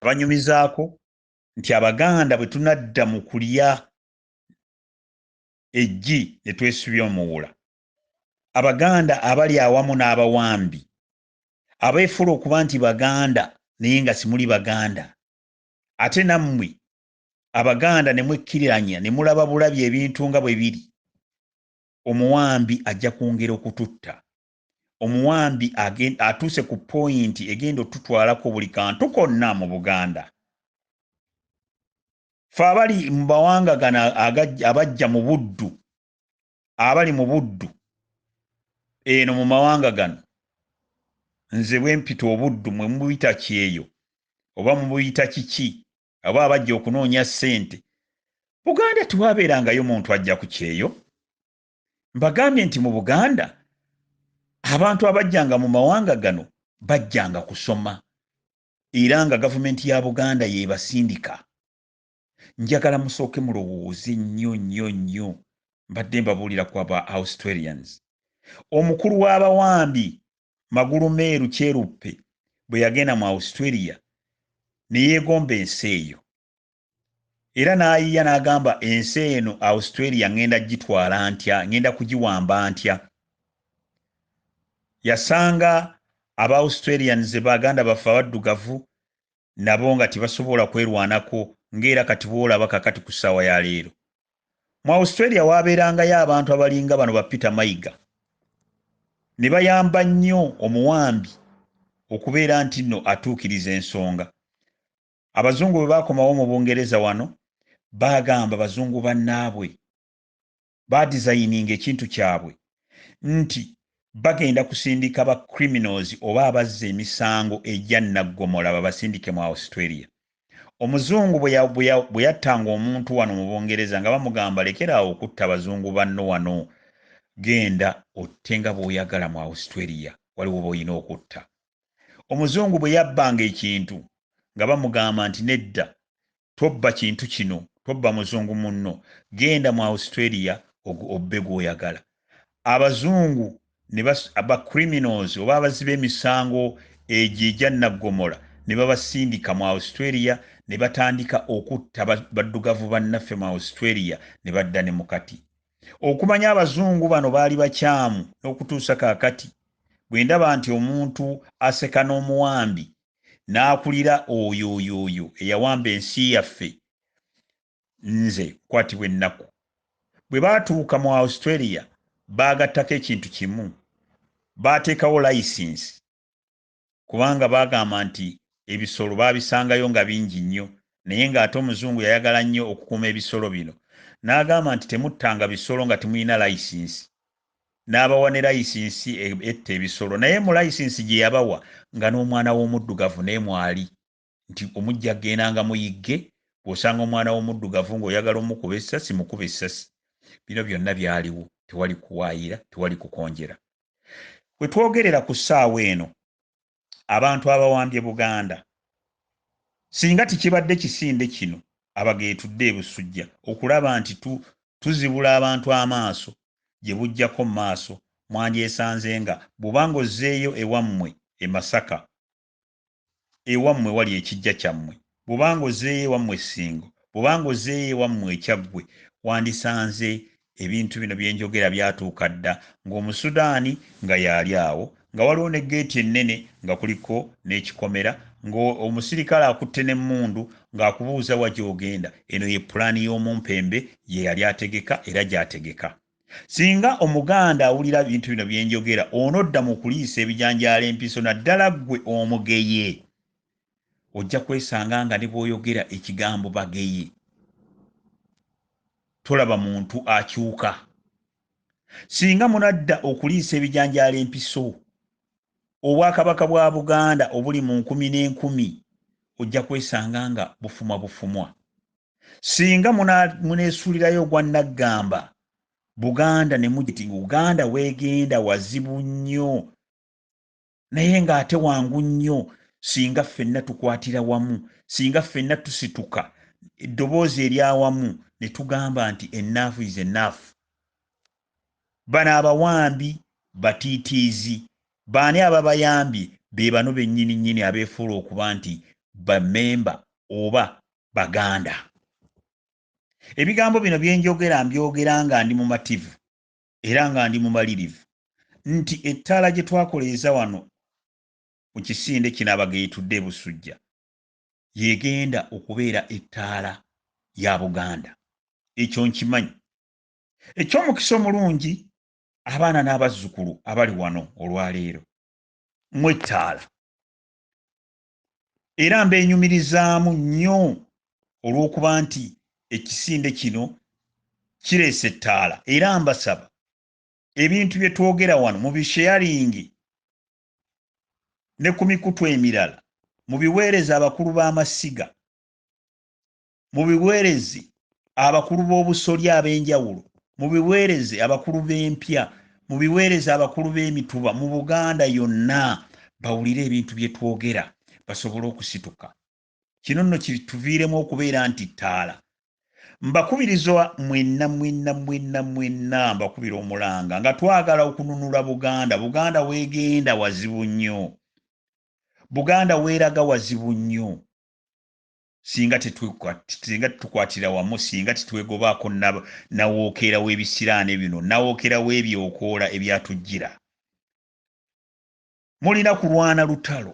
Abanyumizaako nti Abaganda bwe tunadda mu kulya eggi ne twesubya omuwula, Abaganda abali awamu n'abawambi, abeefuula okuba nti Baganda naye nga simuli Baganda, ate nammwe Abaganda ne mwekkiriranya ne mulaba bulabi ebintu nga bwe biri, omuwambi ajja kwongera okututta. omuwambi atuuse ku poyinti egenda otutwalako buli kantu konna mu buganda fe abali mu bawanga gano abajja mu buddu abali mu buddu eno mu mawanga gano nze bwempita obuddu mwe mubuyita kyeyo oba mubuyita kiki aba abajja okunoonya ssente buganda tewabeerangayo muntu ajja ku kyeyo mbagambye nti mu buganda abantu abajjanga mu mawanga gano bajjanga kusoma era nga gavumenti ya buganda yebasindika njagala musooke mulowooze nnyo nnyo nnyo mbadde mbabuulira ku aba australians omukulu w'abawambi magulu meeru kyeruppe bwe yagenda mu australia ne yeegomba ensi eyo era n'ayiya n'agamba ensi eno australia ŋŋenda gitwala ntya ŋŋenda kugiwamba ntya yasanga aba australians baganda baffe abaddugavu nabo nga tebasobola kwerwanako ng'era kati boolaba kakati ku ssaawa ya leero mu australia waabeerangayo abantu abalinga bano ba peter mayiga ne bayamba nnyo omuwambi okubeera nti nno atuukiriza ensonga abazungu bwe baakomawo mu bungereza wano baagamba bazungu bannaabwe baadizayininga ekintu kyabwe nti bagenda kusindika ba criminals oba abazza emisango egya naggomola babasindike mu australia omuzungu bwe yattanga omuntu wano mu bungereza nga bamugamba lekeraawo okutta bazungu banno wano genda otte nga bw'oyagala mu australia waliwo b'olina okutta omuzungu bwe yabbanga ekintu nga bamugamba nti nedda tobba kintu kino tobba muzungu munno genda mu australia obbe gwoyagala abazungu ba criminals oba abazi b'emisango egyo egya naggomola ne babasindika mu australia ne batandika okutta baddugavu bannaffe mu australia ne badda ne mukati Okumanya abazungu bano baali bakyamu n'okutuusa kaakati bwe ndaba nti omuntu aseka n'omuwambi n'akulira oyo oyo oyo eyawamba ensi yaffe nze nkwatibwa ennaku. Bwe baatuuka mu Australia baagattako ekintu kimu, baateekawo layisinsi kubanga baagamba nti ebisolo baabisangayo nga bingi nnyo naye ng'ate Omuzungu yayagala nnyo okukuuma ebisolo bino n'agamba nti temuttanga bisolo nga temulina layisinsi n'abawa ne layisinsi e, etta ebisolo naye mu layisinsi gye yabawa nga n'omwana w'omuddugavu naye mwali. nti omujja agendanga muyigge gwosanga omwana w'omuddugavu ng'oyagala omukuba essasi mukuba essasi bino byonna byaliwo tewali kuwaayira tewali kukonjera we twogerera ku ssaawa eno abantu abawambye buganda singa tikibadde kisinde kino abageetudde ebusujja okulaba nti tuzibula abantu amaaso gye bujjako mu maaso mwandyesanze nga bwubanga ozzeeyo ewammwe e masaka ewammwe wali ekijja kyammwe, bw'oba ng'ozzeeyo ewammwe e Ssingo, bw'oba ng'ozzeeyo ewammwe e Kyaggwe, wandisanze ebintu bino bye njogera byatuuka dda, ng'Omusudaani nga y'ali awo, nga waliwo ne ggeeti ennene nga kuliko n'ekikomera, ng'omusirikale akutte n'emmundu ng'akubuuza wa gy'ogenda. Eno ye pulaani y'omumpembe gye yali ategeka era gy'ategeka. Singa Omuganda awulira bintu bino bye njogera, onodda mu kuliisa ebijanjaalo empiso naddala ggwe Omugeye. Ojja kwesanga nga ne bw'oyogera ekigambo Bageye, tolaba muntu akyuka. Singa munadda okuliisa ebijanjaalo empiso, Obwakabaka bwa Buganda obuli mu nkumi n'enkumi ojja kwesanga nga bufumwa bufumwa. singa munesulirayo ogwa naggamba buganda ne mugiti nga uganda wegenda wazibu nnyo naye ng'ate wangu nnyo singa ffenna tukwatira wamu singa ffenna tusituka eddoboozi eryawamu ne tugamba nti enaafu is enaafu bano abawambi batiitiizi baani ababayambye be bano bennyini nnyini abeefuula okuba nti bamemba oba baganda ebigambo bino byenjogera mbyogera nga ndi mumativu era nga ndi mumalirivu nti ettaala gye twakoleeza wano mu kisinde kino abageetudde ebusujja yegenda okubeera ettaala ya buganda ekyo nkimanyi ekyomukisa omulungi abaana n'abazzukulu abali wano olwaleero mwettaala era mbeenyumirizaamu nnyo olw'okuba nti ekisinde kino kireese ettaala era mbasaba ebintu bye twogera wano mu bisheyalingi ne ku mikutu emirala mu biweereza abakulu b'amasiga mu biweerezi abakulu b'obusolya ab'enjawulo mu biweereze abakulu b'empya mu biweereze abakulu b'emituba mu buganda yonna bawulire ebintu bye twogera basobole okusituka kino nno kituviiremu okubeera nti ttaala mbakubirizwa mwenna mwenna mwenna mwenna mbakubira omulanga nga twagala okununula buganda buganda weegenda wazibu nnyo buganda weeraga wazibu nnyo singa singa tukwatira wamu singa tetwegobaako nawookeera w'ebisiraane bino nawookeera w'ebyokoola ebyatujjira mulina kulwana lutalo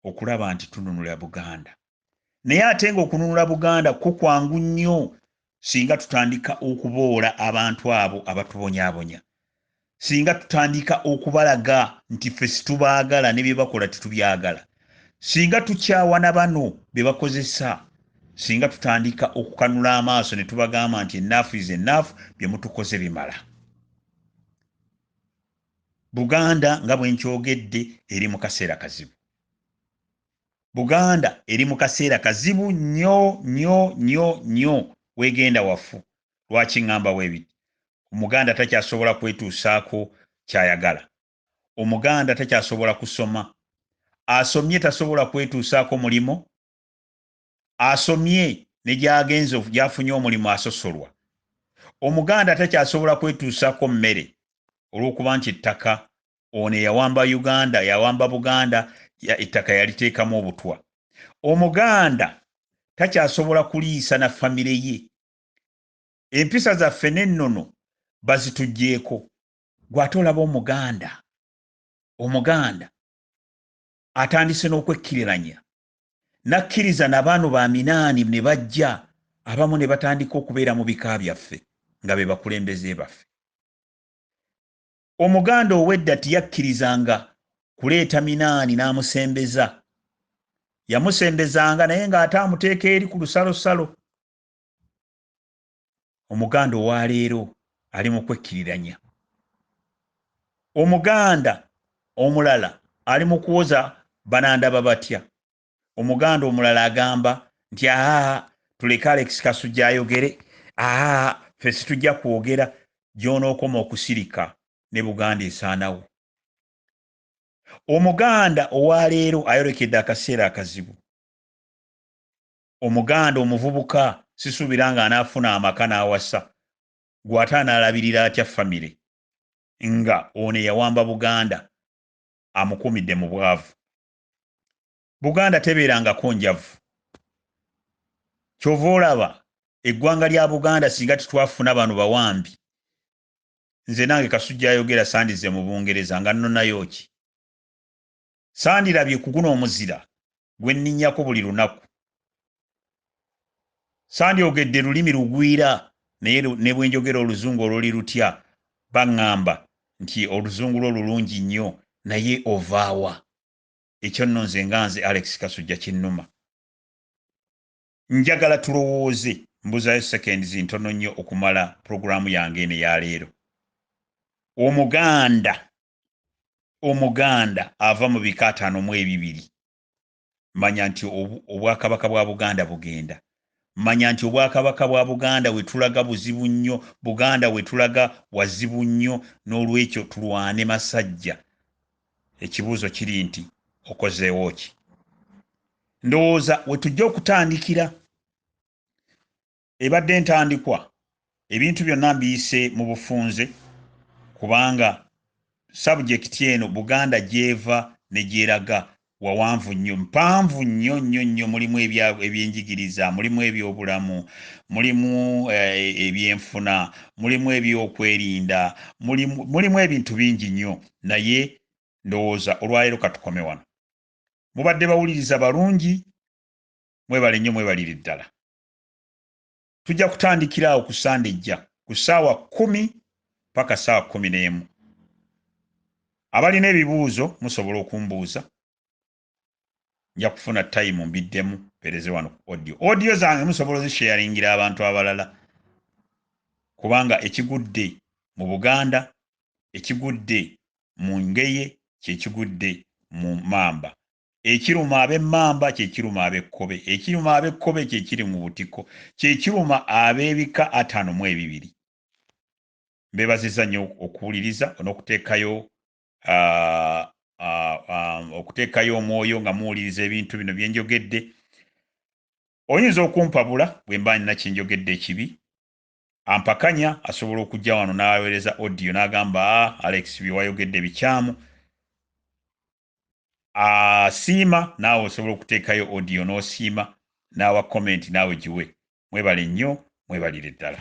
okulaba nti tununula buganda naye ate nga okununula buganda ko kwangu nnyo singa tutandika okuboola abantu abo abatubonyabonya singa tutandika okubalaga nti ffe situbaagala ne bye bakola tetubyagala singa tukyawana bano bye bakozesa singa tutandika okukanula amaaso ne tubagamba nti enaafu is enaafu bye mutukoze bimala buganda nga bwenkyogedde eri mu kaseera kazibu buganda eri mu kaseera kazibu nnyo nnyo nnyo nnyo wegenda wafu lwaki ŋŋamba webiti omuganda takyasobola kwetuusaako kyayagala omuganda takyasobola kusoma asomye tasobola kwetuusaako mulimo asomye ne gyagenze gyafunye omulimu asosolwa omuganda takyasobola kwetuusaako mmere olw'okuba nti ettaka ono eyawamba uganda yawamba buganda ettaka yaliteekamu obutwa omuganda takyasobola kuliisa na famire ye empisa zaffe n'ennono bazitugyeko gw'ate olaba omuganda omuganda atandise n'okwekkiriranya n'akkiriza na baano ba minaani ne bajja abamu ne batandika okubeera mu bika byaffe nga be bakulembeze baffe Omuganda ow'edda tiyakkirizanga kuleeta minaani n'amusembeza. Yamusembezanga naye ng'ate amuteeka eri ku lusalosalo. Omuganda owa leero ali mu kwekkiriranya. Omuganda omulala ali mu kuwoza banandaba batya. omuganda omulala agamba nti aa tuleke alex kasujja ayogere aa fe situjja kwogera gyonookoma okusirika ne buganda esaanawo omuganda owaleero ayolekedde akaseera akazibu omuganda omuvubuka sisuubira nga anaafuna amaka n'awasa gw'ate anaalabirira atya famire nga ono eyawamba buganda amukuumidde mu bwavu buganda tebeerangako njavu kyova olaba eggwanga lya buganda singa titwafuna bano bawambi nze nange kasujja ayogera sandize mu bungereza nga nnonayo ki sandirabye kuguno omuzira gwenninyako buli lunaku sandyogedde lulimi lugwira naye ne bwe njogera oluzungu oluli lutya baŋŋamba nti oluzungu lwo lulungi nnyo naye ovaawa ekyo nno nze nga nze alex kasujja kinnuma njagala tulowooze mbuzayo seconds ntono nnyo okumala pulogulaamu yange eno eyaleero omuganda omuganda ava mu bika ataano mu ebibiri manya nti obwakabaka bwa buganda bugenda manya nti obwakabaka bwa buganda wetulaga buzibu nnyo buganda wetulaga wazibu nnyo n'olwekyo tulwane masajja ekibuuzo kiri nti okozeewo ki ndowooza wetujja okutandikira ebadde entandikwa ebintu byonna mbiyise mu bufunze kubanga sabujekiti eno buganda gyeva negyeraga wawanvu nnyo mpanvu nnyo nnyo nnyo mulimu ebyenjigiriza mulimu ebyobulamu mulimu eh, ebyenfuna mulimu ebyokwerinda mulimu ebintu bingi nnyo naye ndowooza olwaleero katukome wano mubadde bawuliriza balungi mwebale nnyo mwebalire ddala tujja kutandikira awo ku sande ejja ku ssaawa kumi paka ssaawa kumi n'emu abalina ebibuuzo musobola okumbuuza nja kufuna tayimu mbiddemu pereze wano ku audio audio zange musobola ozisharingira abantu abalala kubanga ekigudde mu buganda ekigudde mu ngeye kyekigudde mu mamba Ekiruma ab'emmamba kye kiruma ab'ekkobe, ekiruma ab'ekkobe kye kiri mu butiko, kye kiruma ab'ebika ataano mu ebibiri. Mbeebazizza nnyo okuwuliriza n'okuteekayo okuteekayo omwoyo nga muwuliriza ebintu bino bye njogedde. Oyinza okumpabula bwe mba nina kye njogedde ekibi. Ampakanya asobola okujja wano n'aweereza odiyo n'agamba, ah, Alex bye wayogedde bikyamu. asiima uh, naawe osobola okuteekayo audio n'osiima n'awa comment naawe giwe mwebale nnyo mwebalire ddala